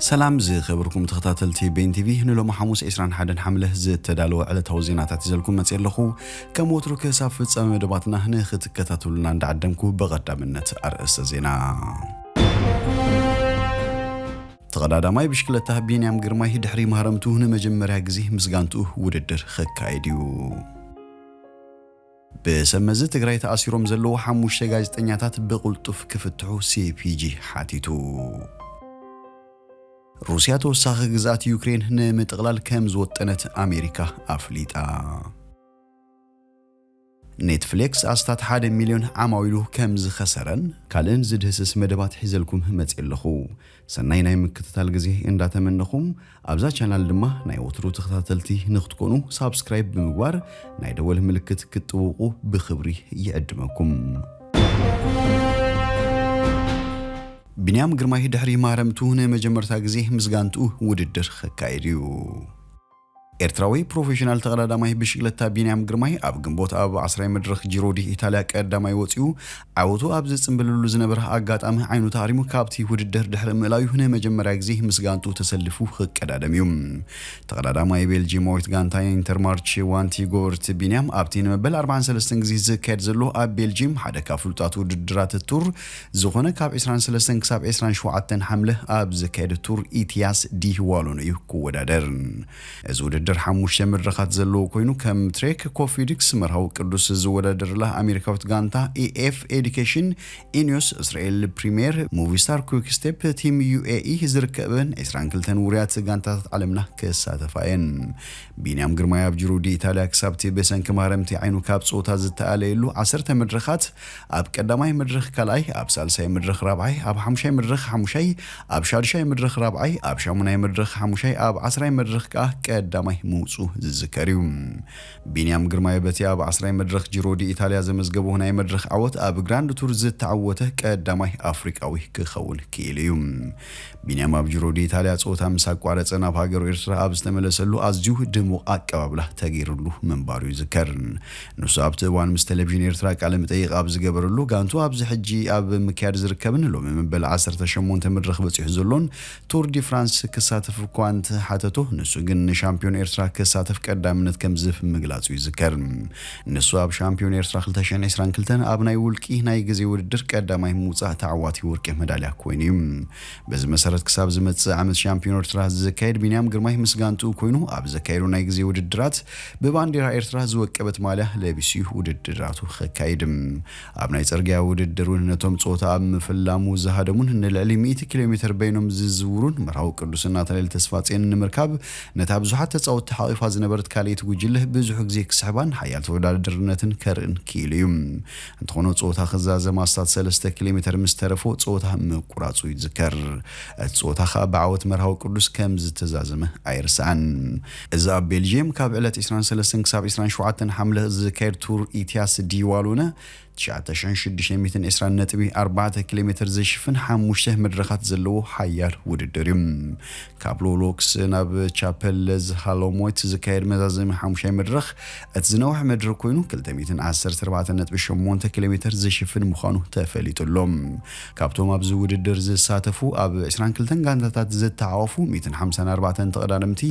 ሰላም ዝኸበርኩም ተኸታተልቲ ቤን ቲቪ ንሎሚ ሓሙስ 21 ሓምለ ዝተዳለወ ዕለታዊ ዜናታት ይዘልኩም መፅእ ኣለኹ ከም ወትሩ ክሳብ ፍፃመ መደባትና ንክትከታተሉና እንዳዓደምኩ በቐዳምነት ኣርእስተ ዜና ተቐዳዳማይ ብሽክለታ ቢንያም ግርማይ ድሕሪ ማህረምቱ ንመጀመርያ ግዜ ምስ ጋንትኡ ውድድር ኸካየድ እዩ ብሰብ መዚ ትግራይ ተኣሲሮም ዘለዉ ሓሙሽተ ጋዜጠኛታት ብቕልጡፍ ክፍትሑ ሲፒጂ ሓቲቱ። ሩስያ ተወሳኺ ግዝኣት ዩክሬን ንምጥቕላል ከምዝወጠነት ኣሜሪካ ኣፍሊጣ። ኔትፍሌክስ ኣስታት ሓደ ሚልዮን ዓማዊሉ ከምዝኸሰረን ካልእን ዝድህስስ መደባት ሒዘልኩም መፅየ ኣለኹ። ሰናይ ናይ ምክትታል ግዜ እንዳ ተመነኹ ኣብዛ ቻናል ድማ ናይ ወትሩ ተኸታተልቲ ንክትኮኑ ሳብስክራይብ ብምግባር ናይ ደወል ምልክት ክትጥውቁ ብኽብሪ ይዕድመኩም። ቢንያም ግርማይ ድሕሪ ማህረምቱ ንመጀመርታ ግዜ ምስ ጋንትኡ ውድድር ከካይድ እዩ። ኤርትራዊ ፕሮፌሽናል ተቐዳዳማይ ብሽግለታ ቢንያም ግርማይ ኣብ ግንቦት ኣብ ዓስራይ መድረኽ ጂሮ ዲ ኢታልያ ቀዳማይ ወጺኡ ዓወቱ ኣብ ዝጽምብልሉ ዝነበረ ኣጋጣሚ ዓይኑ ተሃሪሙ ካብቲ ውድድር ድሕሪ ምእላዩ ንመጀመርያ ግዜ ምስ ጋንትኡ ተሰሊፉ ክቀዳደም እዩ። ተቐዳዳማይ ቤልጂማዊት ጋንታ ኢንተርማርቼ ዋንቲ ጎበርቲ ቢንያም ኣብቲ ንመበል ኣርባዓን ሰለስተን ግዜ ዝካየድ ዘሎ ኣብ ቤልጂም ሓደ ካብ ፍሉጣት ውድድራት ቱር ዝኾነ ካብ ዕስራን ሰለስተን ክሳብ ዕስራን ሸውዓተን ሓምለ ኣብ ዝካየድ ቱር ኢቲያስ ዲ ዋሎን እዩ ክወዳደር። እዚ ውድድር ሓሙሽተ መድረኻት ዘለዎ ኮይኑ ከም ትሬክ ኮፊድክስ መርሃዊ ቅዱስ ዝወዳደርላ ኣሜሪካዊት ጋንታ ኢኤፍ ኤዲኬሽን፣ ኢኒዮስ እስራኤል ፕሪሜር፣ ሙቪስታር ኩዊክ ስቴፕ፣ ቲም ዩኤኢ ዝርከበን ዕስራን ክልተን ውሩያት ጋንታታት ዓለምና ክሳተፋ እየን። ቢንያም ግርማይ ኣብ ጂሮ ዲ ኢታልያ ክሳብቲ ብሰንኪ ማህረምቲ ዓይኑ ካብ ፀወታ ዝተኣለየሉ ዓሰርተ መድረኻት ኣብ ቀዳማይ መድረኽ ካልኣይ፣ ኣብ ሳልሳይ መድረኽ ራብዓይ፣ ኣብ ሓሙሻይ መድረኽ ሓሙሻይ፣ ኣብ ሻዱሻይ መድረኽ ራብዓይ፣ ኣብ ሻሙናይ መድረኽ ሓሙሻይ፣ ኣብ ዓስራይ መድረኽ ከኣ ቀዳማይ ምውጽኡ ዝዝከር እዩ። ቢንያም ግርማይ በቲ ኣብ ዓስራይ መድረኽ ጂሮ ዲኢታልያ ዘመዝገቦ ናይ መድረኽ ዓወት ኣብ ግራንድ ቱር ዝተዓወተ ቀዳማይ ኣፍሪቃዊ ክኸውን ክኢሉ እዩ። ቢንያም ኣብ ጁሮ ዲኢታልያ ጸወታ ምስ ኣቋረጸ ናብ ሃገሩ ኤርትራ ኣብ ዝተመለሰሉ ኣዝዩ ድሙቕ ኣቀባብላ ተገይርሉ ምንባሩ ይዝከር። ንሱ ኣብቲ እዋን ምስ ተለቪዥን ኤርትራ ቃለ መጠይቕ ኣብ ዝገበረሉ፣ ጋንትኡ ኣብዚ ሕጂ ኣብ ምክያድ ዝርከብን ሎሚ መበል ዓሰርተ ሸሞንተ መድረኽ በጺሑ ዘሎን ቱር ዲ ፍራንስ ክሳተፍ እኳ እንተሓተቶ፣ ንሱ ግን ንሻምፕዮን ኤርትራ ክሳተፍ ቀዳምነት ከምዝህብ ምግላጹ ይዝከር። ንሱ ኣብ ሻምፕዮን ኤርትራ ክልተ ሽሕን ዕስራን ክልተን ኣብ ናይ ውልቂ ናይ ግዜ ውድድር ቀዳማይ ምውጻእ ተዓዋቲ ወርቂ መዳልያ ኮይኑ እዩ። በዚ መሰረት ክሳብ ዝመጽእ ዓመት ሻምፕዮን ኤርትራ ዝካየድ ቢንያም ግርማይ ምስ ጋንትኡ ኮይኑ ኣብ ዘካየዶ ናይ ግዜ ውድድራት ብባንዴራ ኤርትራ ዝወቀበት ማልያ ለቢሱ'ዩ ውድድራቱ ከካይድ። ኣብ ናይ ጽርግያ ውድድር ውን ነቶም ጾታ ኣብ ምፍላሙ ዝሃደሙን ንልዕሊ ሚእቲ ኪሎሜተር በይኖም ዝዝውሩን መርሃዊ ቅዱስን ናትናኤል ተስፋጼንን ንምርካብ ነታ ብዙሓት ተጻወትቲ ሓቚፋ ዝነበረት ካልኤይቲ ጉጅለ ብዙሕ ግዜ ክስሕባን ሓያል ተወዳዳድርነትን ከርእን ክኢሉ እዩ። እንተኾነ ጾታ ክዛዘም ኣስታት ሰለስተ ኪሎሜተር ምስ ተረፎ ጾታ ምቁራጹ ይዝከር። እቲ ጾታ ከኣ ብዓወት መርሃዊ ቅዱስ ከም ዝተዛዘመ ኣይርሳዕን። እዚ ኣብ ቤልጂየም ካብ ዕለት ዕስራን ሰለስተን ክሳብ ዕስራን ሸውዓተን ሓምለ ዝካየድ ቱር ኢትያስ ዲ ዋሉነ ትሽዓተ ሽሕን ሽዱሽተ ሚእትን ዕስራን ነጥቢ ኣርባዕተ ኪሎ ሜተር ዝሽፍን ሓሙሽተ መድረኻት ዘለዎ ሓያል ውድድር እዩ። ካብ ሎሎክስ ናብ ቻፐለዝ ሃሎሞይት ዝካየድ መዛዘሚ ሓሙሻይ መድረኽ እቲ ዝነውሐ መድረኽ ኮይኑ ክልተ ሚእትን ዓሰርተ ኣርባዕተ ነጥቢ ሸሞንተ ኪሎ ሜተር ዝሽፍን ምዃኑ ተፈሊጡ ኣሎ። ካብቶም ኣብዚ ውድድር ዝሳተፉ ኣብ ዕስራን ክልተን ጋንታታት ዝተዓወፉ ሚእትን ሓምሳን ኣርባዕተን ተቐዳደምቲ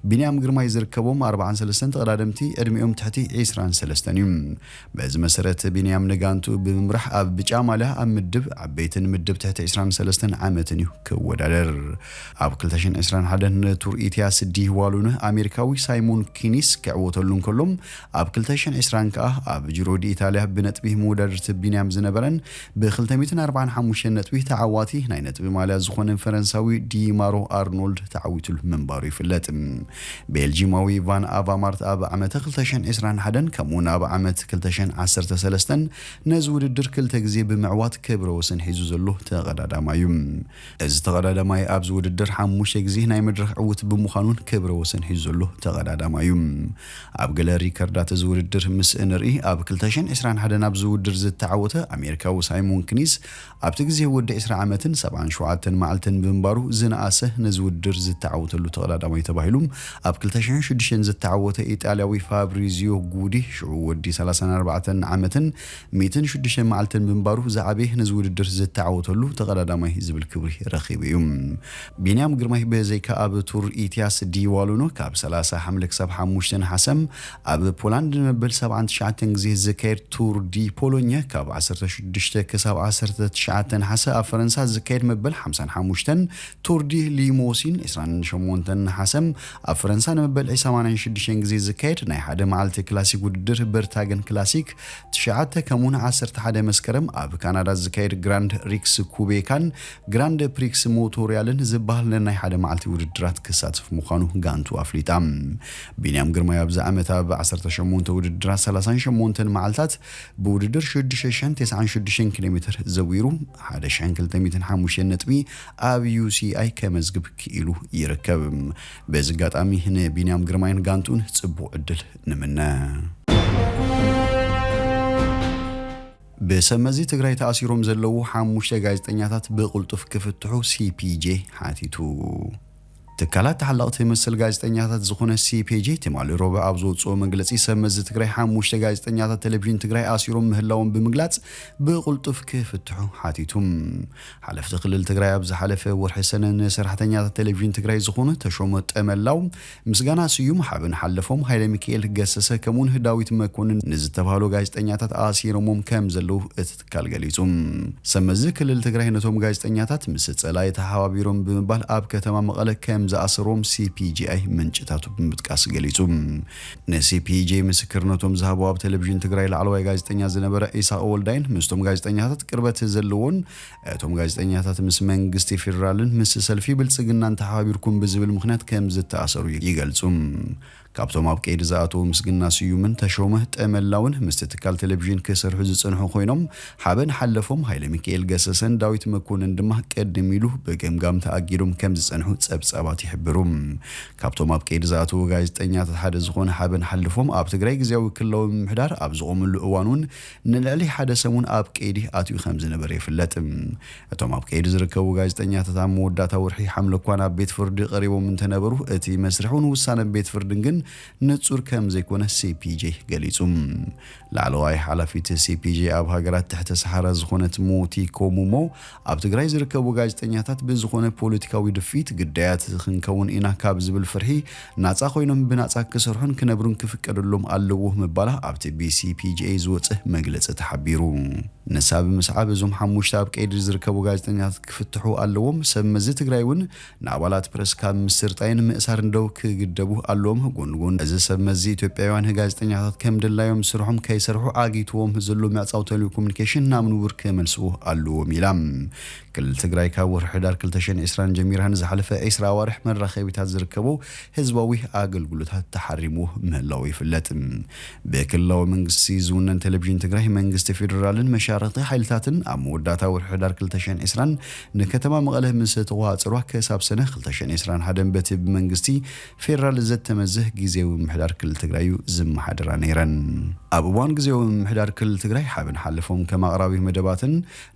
ቢንያም ግርማይ ዝርከቦም ኣርባዓን ሰለስተን ተቐዳደምቲ ዕድሚኦም ትሕቲ ዕስራን ሰለስተን እዩ። በዚ መሰረት ቢንያም ንጋንትኡ ብምምራሕ ኣብ ብጫ ማልያ ኣብ ምድብ ዓበይትን ምድብ ትሕቲ ዕስራን ሰለስተን ዓመትን እዩ ክወዳደር። ኣብ ክልተ ሽሕን ዕስራን ሓደን ንቱር ኢትያስ ዲህ ዋሉ ን ኣሜሪካዊ ሳይሞን ኪኒስ ክዕወተሉ እንከሎ ኣብ ክልተ ሽሕን ዕስራን ከኣ ኣብ ጂሮ ዲኢታልያ ብነጥቢ መወዳድርቲ ቢንያም ዝነበረን ብ ክልተ ሚእትን ኣርባዓን ሓሙሽተን ነጥቢ ተዓዋቲ ናይ ነጥቢ ማልያ ዝኾነ ፈረንሳዊ ዲማሮ ኣርኖልድ ተዓዊትሉ ምንባሩ ይፍለጥ። ቤልጂማዊ ቫን ኣቫማርት ኣብ ዓመተ ክልተ ሽሕን ዕስራን ሓደን ከምኡ'ውን ኣብ ዓመት ክልተ ሽሕን ዓሰርተ ሰለስተን ነዚ ውድድር ክልተ ግዜ ብምዕዋት ክብረ ወሰን ሒዙ ዘሎ ተቐዳዳማይ'ዩ። እዚ ተቐዳዳማይ ኣብዚ ውድድር ሓሙሽተ ግዜ ናይ መድረኽ ዕውት ብምዃኑን ክብረ ወሰን ሒዙ ዘሎ ተቐዳዳማይ እዩ። ኣብ ገለ ሪከርዳት እዚ ውድድር ምስ እንርኢ ኣብ ክልተ ሽሕን ዕስራን ሓደን ኣብዚ ውድር ዝተዓወተ ኣሜሪካዊ ሳይሞን ክኒስ ኣብቲ ግዜ ወዲ ዕስራ ዓመትን ሰብዓን ሸውዓተን መዓልትን ብምንባሩ ዝነኣሰ ነዚ ውድድር ዝተዓወተሉ ተቐዳዳማይ ተባሂሉ ኣብ ክልተ ሽሕን ሽዱሽተን ዝተዓወተ ኢጣልያዊ ፋብሪዚዮ ጉዲ ሽዑ ወዲ ሰላሳን ኣርባዕተን ዓመትን ሚእትን ሽዱሽተን መዓልቲ ብምንባሩ ዝዓበየ ነዚ ውድድር ዝተዓወተሉ ተቐዳዳማይ ዝብል ክብሪ ረኺቡ እዩ። ቢንያም ግርማይ ብዘይካ ኣብ ቱር ኢትያስ ዲ ዋሉኖ ካብ ሰላሳ ሓምለ ክሳብ ሓሙሽተ ነሓሰ፣ ኣብ ፖላንድ ንመበል ሰብዓን ትሽዓተን ግዜ ዝካየድ ቱር ዲ ፖሎኘ ካብ ዓሰርተ ሽዱሽተ ክሳብ ዓሰርተ ትሽዓተ ነሓሰ፣ ኣብ ፈረንሳ ዝካየድ መበል ሓምሳን ሓሙሽተን ቱር ዲ ሊሞሲን ዕስራን ሸሞንተን ነሓሰ፣ ኣብ ፈረንሳ ንመበልዒ ሰማንያን ሽዱሽተን ግዜ ዝካየድ ናይ ሓደ መዓልቲ ክላሲክ ውድድር በርታገን ክላሲክ ትሽዓተ ከምኡውን ዓሰርተ ሓደ መስከረም ኣብ ካናዳ ዝካየድ ግራንድ ሪክስ ኩቤካን ግራንድ ፕሪክስ ሞቶርያልን ዝበሃል ነናይ ሓደ መዓልቲ ውድድራት ክሳተፍ ምዃኑ ጋንቱ ኣፍሊጣ። ቢንያም ግርማይ ኣብዚ ዓመት ኣብ ዓሰርተ ሸሞንተ ውድድራት ሰላሳን ሸሞንተን መዓልታት ብውድድር ሽዱሽተ ሽሕን ተስዓን ሽዱሽተን ኪሎ ሜተር ዘዊሩ ሓደ ሽሕን ክልተ ሚእትን ሓሙሽተን ነጥቢ ኣብ ዩሲኣይ ከመዝግብ ክኢሉ ይርከብ። በዚ ኣጋጣሚ ንቢንያም ግርማይን ጋንትኡን ጽቡቕ ዕድል ንምነ። ብሰብ መዚ ትግራይ ተኣሲሮም ዘለዉ ሓሙሽተ ጋዜጠኛታት ብቕልጡፍ ክፍትሑ ሲፒጄ ሓቲቱ። ትካላት ተሓለቕቲ መሰል ጋዜጠኛታት ዝኾነ ሲፒጄ ትማሊ ሮብዕ ኣብ ዘውጽኦ መግለጺ ሰብ መዚ ትግራይ ሓሙሽተ ጋዜጠኛታት ቴሌቪዥን ትግራይ ኣሲሮም ምህላዎም ብምግላጽ ብቕልጡፍ ክፍትሑ ሓቲቱ። ሓለፍቲ ክልል ትግራይ ኣብ ዝሓለፈ ወርሒ ሰነ ንሰራሕተኛታት ቴሌቪዥን ትግራይ ዝኾኑ ተሾመ ጠመላው፣ ምስጋና ስዩም፣ ሓበን ሓለፎም፣ ሃይለሚካኤል ገሰሰ ከምኡውን ዳዊት መኮንን ንዝተባህሉ ጋዜጠኛታት ኣሲሮሞም ከምዘለዉ እቲ ትካል ገሊጹ። ሰብመዚ ክልል ትግራይ ነቶም ጋዜጠኛታት ምስ ጸላኢ ተሓባቢሮም ብምባል ኣብ ከተማ መቐለ ከምዝኣሰርዎም ሲፒጄኣይ ምንጭታቱ ብምጥቃስ ገሊጹ። ንሲፒጄ ምስክርነቶም ዝሃቡ ኣብ ቴሌቪዥን ትግራይ ላዕለዋይ ጋዜጠኛ ዝነበረ ኢሳቕ ወልዳይን ምስቶም ጋዜጠኛታት ቅርበት ዘለዎን እቶም ጋዜጠኛታት ምስ መንግስቲ ፌደራልን ምስ ሰልፊ ብልጽግናን ተሓባቢርኩም ብዝብል ምኽንያት ከምዝተኣሰሩ ይገልጹ። ካብቶም ኣብ ቀይዲ ዝኣተዉ ምስግና ስዩምን ተሾመ ጠመላውን ምስቲ ትካል ቴሌቪዥን ክሰርሑ ዝጸንሑ ኮይኖም፣ ሓበን ሓለፎም፣ ሃይለሚካኤል ገሰሰን ዳዊት መኮንን ድማ ቅድም ኢሉ ብገምጋም ተኣጊዶም ከም ዝጸንሑ ጸብጻባት ይሕብሩ። ካብቶም ኣብ ቀይዲ ዝኣተዉ ጋዜጠኛታት ሓደ ዝኾነ ሓበን ሓለፎም ኣብ ትግራይ ግዝያዊ ክልላዊ ምምሕዳር ኣብ ዝቖመሉ እዋን'ውን ንልዕሊ ሓደ ሰሙን ኣብ ቀይዲ ኣትዩ ከም ዝነበረ ይፍለጥ። እቶም ኣብ ቀይዲ ዝርከቡ ጋዜጠኛታት ኣብ መወዳእታ ወርሒ ሓምለ'ኳ ናብ ቤት ፍርዲ ቀሪቦም እንተነበሩ፣ እቲ መስርሕን ውሳነ ቤት ፍርድን ግን ንጹር ከም ዘይኮነ ሲፒጄ ገሊጹ። ላዕለዋይ ሓላፊት ሲፒጄ ኣብ ሃገራት ትሕተ ሰሓራ ዝኾነት ሞቲኮ ሙሞ፣ ኣብ ትግራይ ዝርከቡ ጋዜጠኛታት ብዝኾነ ፖለቲካዊ ድፍኢት ግዳያት ክንከውን ኢና ካብ ዝብል ፍርሒ ናጻ ኮይኖም ብናጻ ክሰርሑን ክነብሩን ክፍቀደሎም ኣለዎ ምባላ ኣብቲ ብሲፒጂኤይ ዝወጽእ መግለጺ ተሓቢሩ። ንሳ ብምስዓብ እዞም ሓሙሽተ ኣብ ቀይዲ ዝርከቡ ጋዜጠኛታት ክፍትሑ ኣለዎም፣ ሰብ መዚ ትግራይ እውን ንኣባላት ፕረስ ካብ ምስርጣይን ምእሳርን ደው ክግደቡ ኣለዎም፣ ጎኒ ጎኒ እዚ ሰብ መዚ ኢትዮጵያዊያን ጋዜጠኛታት ከም ድላዮም ስርሖም ከይሰርሑ ኣጊትዎም ዘሎ ምዕጻው ተልኮሙኒኬሽን ናብ ንቡር ክመልስዎ ኣለዎም ኢላ። ክልል ትግራይ ካብ ወርሒ ሕዳር ክልተ ሽሕን ዕስራን ጀሚራ ንዝሓለፈ ዕስራ ኣዋርሕ መራኸቢታት ዝርከቦ ህዝባዊ ኣገልግሎታት ተሓሪሙ ምህላዉ ይፍለጥ። ብክልላዊ መንግስቲ ዝውነን ቴሌቪዥን ትግራይ፣ መንግስቲ ፌደራልን መሻርኽቲ ሓይልታትን ኣብ መወዳእታ ወርሒ ሕዳር ክልተ ሽሕን ዕስራን ንከተማ መቐለ ምስ ተቖጻጸሩዋ ክሳብ ሰነ ክልተ ሽሕን ዕስራን ሓደን በቲ ብመንግስቲ ፌደራል ዘተመዘ ግዝያዊ ምምሕዳር ክልል ትግራይ እዩ ዝመሓደራ ነይረን። ኣብ እዋን ግዝያዊ ምምሕዳር ክልል ትግራይ ሓበን ሓለፎም ከም ኣቕራቢ መደባትን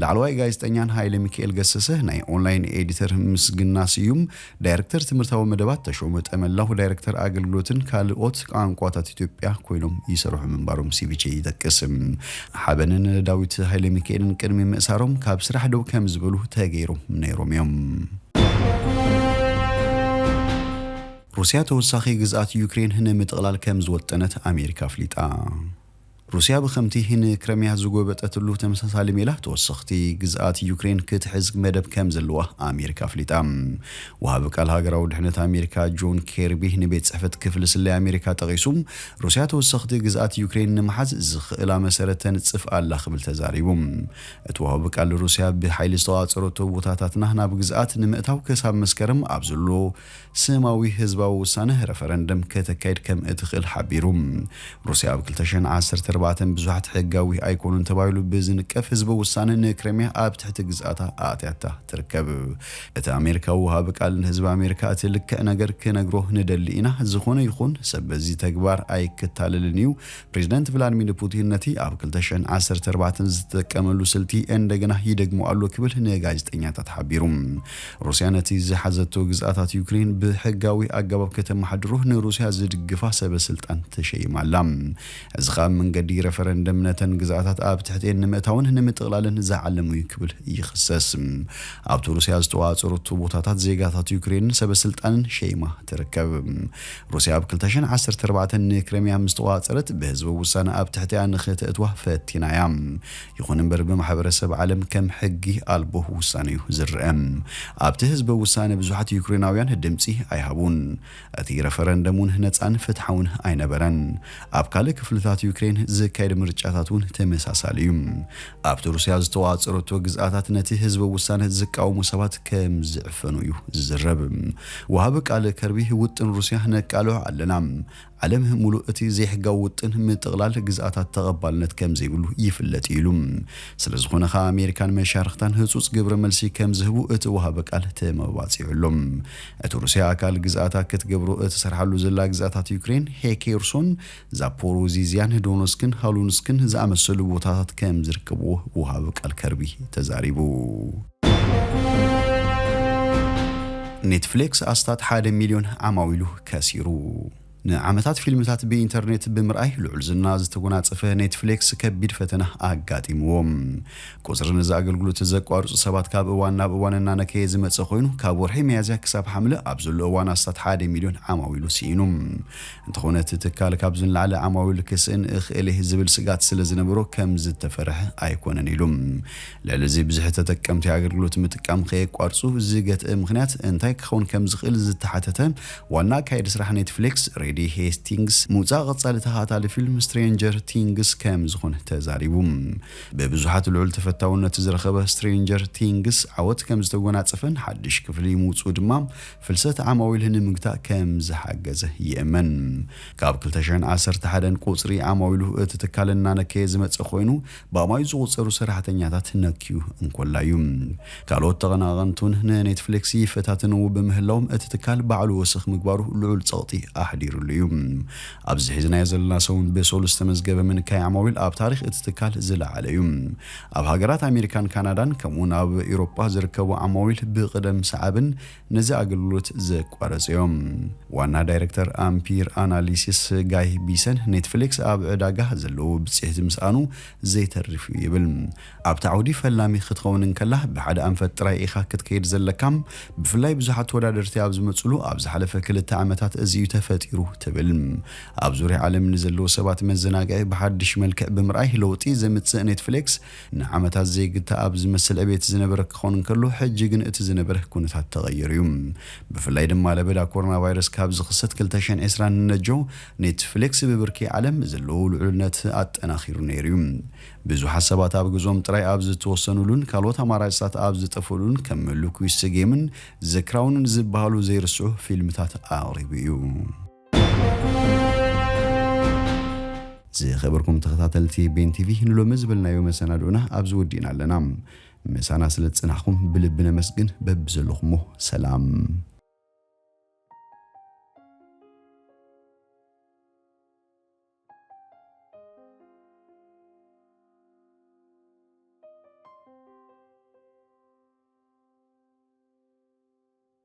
ላዕለዋይ ጋዜጠኛን ሃይለሚኪኤል ገሰሰ ናይ ኦንላይን ኤዲተር ምስግና ስዩም፣ ዳይረክተር ትምህርታዊ መደባት ተሾመ ጠመላው፣ ዳይረክተር ኣገልግሎትን ካልኦት ቛንቋታት ኢትዮጵያ ኮይኖም ይሰርሑ ምንባሮም ሲቪቼ ይጠቅስ። ሓበንን ዳዊት ሃይለሚኪኤልን ቅድሚ ምእሳሮም ካብ ስራሕ ደው ከም ዝበሉ ተገይሮም ነይሮም እዮም። ሩስያ ተወሳኺ ግዝኣት ዩክሬን ንምጥቕላል ከም ዝወጠነት ኣሜሪካ ኣፍሊጣ። ሩስያ ብከምቲ ን ክረምያ ዝጎበጠትሉ ተመሳሳሊ ሜላ ተወሰኽቲ ግዝኣት ዩክሬን ክትሕዝ መደብ ከምዘለዋ ኣሜሪካ ኣፍሊጣ። ወሃቢ ቃል ሃገራዊ ድሕነት ኣሜሪካ ጆን ኬርቢ ንቤት ጽሕፈት ክፍሊ ስለያ ኣሜሪካ ጠቒሱ ሩስያ ተወሰኽቲ ግዝኣት ዩክሬን ንምሓዝ ዝኽእላ መሰረት ተንጽፍ ኣላ ክብል ተዛሪቡ። እቲ ወሃቢ ቃል ሩስያ ብሓይሊ ዝተቖጻጸረቶ ቦታታትና ናብ ግዝኣት ንምእታው ክሳብ መስከረም ኣብ ዘሎ ስማዊ ህዝባዊ ውሳነ፣ ረፈረንደም፣ ከተካይድ ከም እትኽእል ሓቢሩ። ሩስያ ኣብ ክልተ ሽሕን ዓሰርተ ኣርባዕተን ብዙሓት ሕጋዊ ኣይኮኑን ተባሂሉ ብዝንቀፍ ህዝበ ውሳነ ንክረሚያ ኣብ ትሕቲ ግዝኣታ ኣእትያታ ትርከብ። እቲ ኣሜሪካዊ ወሃቢ ቃል ንህዝቢ ኣሜሪካ እቲ ልክዕ ነገር ክነግሮ ንደሊ ኢና፣ ዝኾነ ይኹን ሰብ በዚ ተግባር ኣይክታለልን እዩ፣ ፕሬዝደንት ቭላድሚር ፑቲን ነቲ ኣብ ክልተ ሽሕን ዓሰርተ ኣርባዕተን ዝተጠቀመሉ ስልቲ እንደገና ይደግሞ ኣሎ ክብል ንጋዜጠኛታት ሓቢሩ። ሩስያ ነቲ ዝሓዘቶ ግዝኣታት ዩክሬን ብሕጋዊ ኣገባብ ከተመሓድሮ ንሩስያ ዝድግፋ ሰበ ስልጣን ተሸይማ ኣላ። እዚ ከኣ ብ መንገዲ ረፈረንደም ነተን ግዝኣታት ኣብ ትሕቲኤን ንምእታውን ንምጥቕላልን ዝዓለመ እዩ ክብል ይኽሰስ። ኣብቲ ሩስያ ዝተቆጻጸረቶ ቦታታት ዜጋታት ዩክሬንን ሰበ ስልጣንን ሸይማ ትርከብ። ሩስያ ኣብ ክልተ ሽሕን ዓሰርተ ኣርባዕተን ንክረሚያ ምስ ተቖጻጸረት ብህዝበ ውሳነ ኣብ ትሕቲኣ ንኽተእትዋ ፈቲና እያ። ይኹን እምበር ብማሕበረሰብ ዓለም ከም ሕጊ ኣልቦ ውሳነ እዩ ዝርኣ። ኣብቲ ህዝበ ውሳነ ብዙሓት ዩክሬናውያን ድምጺ ኣይሃቡን። እቲ ረፈረንደም እውን ነጻን ፍትሓውን ኣይነበረን። ኣብ ካልእ ክፍልታት ዩክሬን ዝካየድ ምርጫታት እውን ተመሳሳሊ እዩ። ኣብቲ ሩስያ ዝተዋጸረቶ ግዝኣታት ነቲ ህዝበ ውሳነ ዝቃወሙ ሰባት ከም ዝዕፈኑ እዩ ዝዝረብ። ወሃቢ ቃል ከርቢ ውጥን ሩስያ ነቃልዖ ኣለና፣ ዓለም ሙሉእ እቲ ዘይሕጋዊ ውጥን ምጥቕላል ግዝኣታት ተቐባልነት ከም ዘይብሉ ይፍለጥ እዩ ኢሉ። ስለዝኾነ ከኣ ኣሜሪካን መሻርኽታን ህጹጽ ግብረ መልሲ ከም ዝህቡ እቲ ወሃቢ ቃል ተመባጺዑ ኣሎ። እቲ ሩስያ ኣካል ግዝኣታ ክትገብሮ እትሰርሓሉ ዘላ ግዝኣታት ዩክሬን ሄኬርሶን፣ ዛፖሮዚዝያን ዶነስክን ሃሉንስክን ዝኣመሰሉ ቦታታት ከም ዝርከብዎ ወሃቢ ቃል ከርቢ ተዛሪቡ። ኔትፍሌክስ ኣስታት ሓደ ሚልዮን ዓማዊሉ ከሲሩ። ንዓመታት ፊልምታት ብኢንተርኔት ብምርኣይ ልዑል ዝና ዝተጎናጸፈ ኔትፍሌክስ ከቢድ ፈተና ኣጋጢምዎ። ቁጽሪ ነዚ ኣገልግሎት ዘቋርጹ ሰባት ካብ እዋን ናብ እዋን እናነከየ ዝመጸ ኮይኑ ካብ ወርሒ ሚያዝያ ክሳብ ሓምለ ኣብ ዘሎ እዋን ኣስታት ሓደ ሚልዮን ዓማዊሉ ስኢኑ። እንተኾነ እቲ ትካል ካብዚ ንላዕሊ ዓማዊል ክስእን እኽእል እየ ዝብል ስግኣት ስለዝነበሮ ከምዝተፈርሐ ኣይኮነን ኢሉ። ልዕሊ እዚ ብዝሒ ተጠቀምቲ ኣገልግሎት ምጥቃም ከየቋርፁ ዝገትእ ምኽንያት እንታይ ክኸውን ከምዝኽእል ዝተሓተተ ዋና ኣካየዲ ስራሕ ኔትፍሊክስ ሬዲ ሄስቲንግስ ምውፃእ ቐፃሊ ተኸታታሊ ፊልም ስትሬንጀር ቲንግስ ከምዝኾነ ተዛሪቡ። ብብዙሓት ልዑል ተፈታውነት ዝረኸበ ስትሬንጀር ቲንግስ ዓወት ከምዝተጎናፀፈን ሓድሽ ክፍሊ ምውፅኡ ድማ ፍልሰት ዓማዊል ንምግታእ ከም ዝሓገዘ ይእመን። ካብ ክልተ ሽሕን ዓሰርተ ሓደን ቁጽሪ ዓማዊሉ እቲ ትካል እናነከየ ዝመጸ ኮይኑ ብኣማኢት ዝቑጸሩ ሰራሕተኛታት ነክዩ እንኮላ እዩ። ካልኦት ተቐናቐንቱን ንኔትፍሊክስ ይፈታትንዎ ብምህላዎም እቲ ትካል ባዕሉ ወሰኽ ምግባሩ ልዑል ጸቕጢ ኣሕዲርሉ እዩ። ኣብዚ ሒዝናዮ ዘለና ሰሙን ብሶሉስ ዝተመዝገበ ምንካይ ዓማዊል ኣብ ታሪኽ እቲ ትካል ዝለዓለ እዩ። ኣብ ሃገራት ኣሜሪካን ካናዳን ከምኡ'ውን ኣብ ኢሮጳ ዝርከቡ ዓማዊል ብቕደም ሰዓብን ነዚ ኣገልግሎት ዘቋረጹ እዮም። ዋና ዳይረክተር ኣምፒር ኣናሊሲስ ጋይ ቢሰን፣ ኔትፍሊክስ ኣብ ዕዳጋ ዘለዎ ብጽሒት ምስኣኑ ዘይተርፍ እዩ ይብል። ኣብቲ ዓውዲ ፈላሚ ክትኸውን እንከላ ብሓደ ኣንፈት ጥራይ ኢኻ ክትከይድ ዘለካ፣ ብፍላይ ብዙሓት ተወዳደርቲ ኣብ ዝመጽሉ ኣብ ዝሓለፈ ክልተ ዓመታት እዚ እዩ ተፈጢሩ ትብል። ኣብ ዙርያ ዓለም ንዘለዉ ሰባት መዘናግዒ ብሓድሽ መልክዕ ብምርኣይ ለውጢ ዘምጽእ ኔትፍሊክስ፣ ንዓመታት ዘይግተኣብ ዝመስል ዕቤት ዝነበረ ክኾን እንከሎ፣ ሕጂ ግን እቲ ዝነበረ ኩነታት ተቐይሩ'ዩ። ብፍላይ ድማ ለበዳ ኮሮናቫይረስ ካብ ዝኽሰት ክልተ ሽሕን ዕስራን ንነጆ፣ ኔትፍሌክስ ብብርኪ ዓለም ዘለዎ ልዑልነት ኣጠናኺሩ ነይሩ'ዩ። ብዙሓት ሰባት ኣብ ገዝኦም ጥራይ ኣብ ዝተወሰኑሉን ካልኦት ኣማራጺታት ኣብ ዝጠፍኡሉን ከም ምሉኩ ይስጌምን ዘ ክራውንን ዝበሃሉ ዘይርስዑ ፊልምታት ኣቕሪቡ'ዩ። ዝኸበርኩም ተኸታተልቲ ቤን ቲቪ ንሎሚ ዝበልናዮ መሰናድኡና ኣብዚ ወዲእና ኣለና። ምሳና ስለ ዝጸናሕኩም ብልቢ ነመስግን። በብዘለኹሞ ሰላም